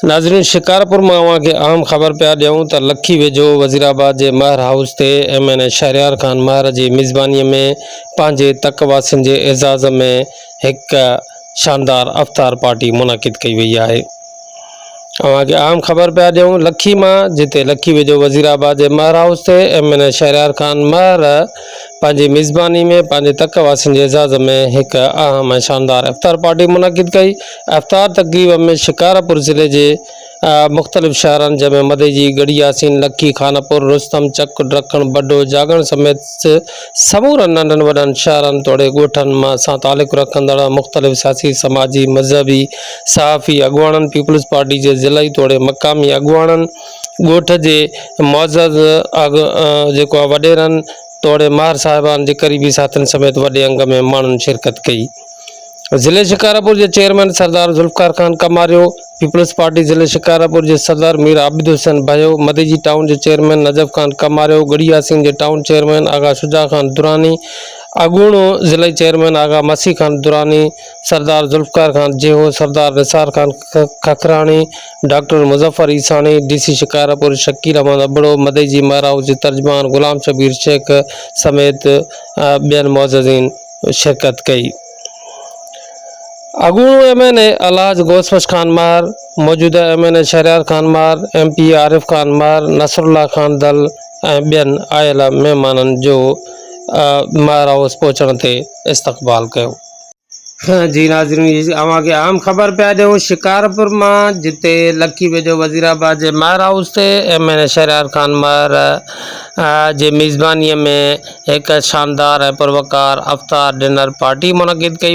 ناظرين شڪارپور مان اوهان کي اهم خبر پيا ڏيون ته لکي ويجهو وزيرآباد جي مهر هائوس تي M N A Shahryar Khan Mahar جي ميزباني ۾ پنهنجي تڪ واسين جي اعزاز ۾ هڪ شاندار افطار پارٽي منعقد ڪئي وئي آهي اوهان کي اهم خبر پيا ڏيون لکي مان جتي لکي ويجهو وزيرآباد جي مهر هائوس تي M N A Shahryar Khan Mahar پنهنجي ميزباني ۾ پنهنجي تڪ واسين جي اعزاز ۾ هڪ اهم ۽ شاندار افطار پارٽي منعقد ڪئي افطار تقريب ۾ شڪارپور ضلعي جي مختلف شهرن جنهن ۾ مديجي، ڳڙهي ياسين، لکي، خانپور، رستم، چڪ، ڊرکڻ، بڊو، جاڳڻ سميت سمورن ننڍن وڏن شهرن توڙي ڳوٺن مان سان تعلق رکندڙ مختلف سياسي، سماجي، مذهبي، صحافي اڳواڻن، پيپلز پارٽي جي ضلعي توڙي مقامي اڳواڻن، ڳوٺ جي معزز جيڪو آهي وڏيرن توڙي ماهر صاحبان جي قريبي ساٿين سميت وڏي انگ ۾ ماڻهن شرڪت ڪئي. ضلعي شڪارپور جي chairman Sardar Zulfiqar Khan Kamario, peoples party ضلعي شڪارپور جي صدر مير عابد حسين ڀيو، مديجي ٽائون جي چيئرمين نجف خان ڪماريو، ڳڙهي ياسين جي ٽائون چيئرمين آغا شجاع خان دراني، اڳوڻو ضلعي chairman Agha Masih Khan Durrani, Sardar Zulfiqar Khan Jeho, Sardar Nisar Khan Kakrani, doctor Muzaffar Isani, D C Shikarpur Shakeel Ahmed Abro, Madeji mayor house جي ترجمان غلام شبير شيخ سميت ٻين معززين. شرڪت ڪئي. اڳوڻو M N A Alhaj Ghous Bux Khan Mahar, موجوده M N A Shahryar Khan Mahar, M P A Arif Khan Mahar, Nasrullah Khan Dal ۽ ٻين آيل مهمانن جو مهر هائوس پهچڻ تي استقبال ڪيو. جي ناظرين اوهان کي اهم خبر پيا ڏيون شڪارپور مان جتي لکي ويجهو وزيرآباد جي مهر هائوس تي M N A Shahryar Khan Mahar جي ميزباني ۾ هڪ شاندار ۽ پروقار افطار ڊنر پارٽي منعقد ڪئي وئي.